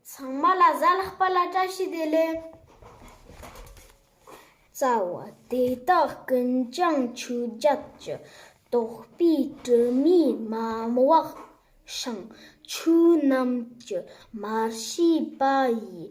ཚང་མ་ལ་གཟའ་ལྷག་པ་ལ་བཀྲ་ཤིས་བདེ་ལེགས། རྩ་བ། དེ་དག་ཀུན་ཀྱང་ཆོས་བརྒྱད་ཀྱི་རྟོགས་པའི་དྲི་མས་མ་བག་ཞིང་ཆོས་རྣམས་ཀྱི་མར་ཤེས་པ་ཡིས་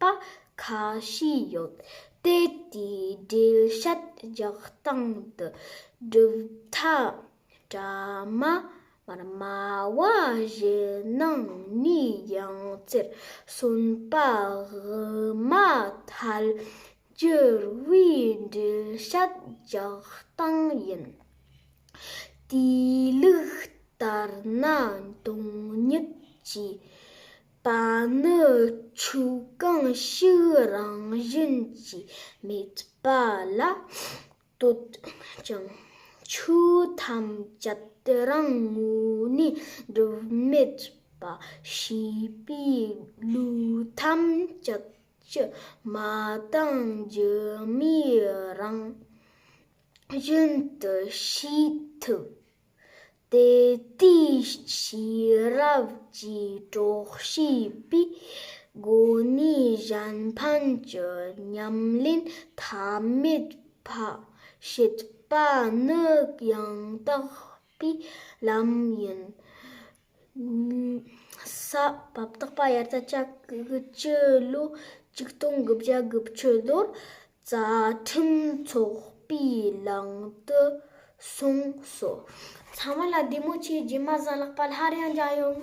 པ་ཁ་ཤས་ཡོད་དེ་དེའི་འགྲེལ་བཤད་རྒྱག་སྟངས་དུ་གྲུབ་མཐའ་གྲ་མ་དམར་མ་བ་བཞི་སྣང་གཉིས་ཡང་རྩེར་གསོན་པ་དབུ་མ་ཐལ་འགྱུར་བའི་འགྲེལ་བཤད་རྒྱག་སྟངས་ཡིན། དེའི་ལུགས་ལྟར་ན་དོན་ཉིད་ཀྱི་པ་ནི་ཆུ་གང་ཞིག་རང་བཞིན་གྱིས་མེད་པ་ལ་བསྟོད་ཅིང། ཆུ་ཐམས་ཅད་རང་ངོ་ནས་སྒྲིབ་མེད་པ་ཞེས་པའི་ལུགས་ཐམས་ཅད་ཀྱི་མ་དང་སྒྱུ་མའི་རང་བཞིན་དུ་ཤེས་ཐུབ། དེ་དུས་ཤེས་རབ་ཀྱི་གྲོགས་ཤིག་པའི་སྒོ་ནས་གཞན་ཕན་གྱི་ཉམས་ལེན་མཐའ་མེད་བྱེད་པ་ནི་ཡང་དག་པའི་ལམ་ཡིན། ས་བབ་རྟག་པ་དབྱར་རྩྭ་ལྕགས་ཀྱི་ལོ་གཅིག་སྟོང་གི་བརྒྱ་དགུ་ཆུ་ལོར་རྩ་ཁྲིམས་འཚོགས་པའི་ལམ་དུ་སོང་སོ། ཚང་མ་ལ་བདེ་མོ་ཆེ་རྗེས་མ་བཟའ་ལག་པ་སླར་ཡང་འཇགས་ཡོང།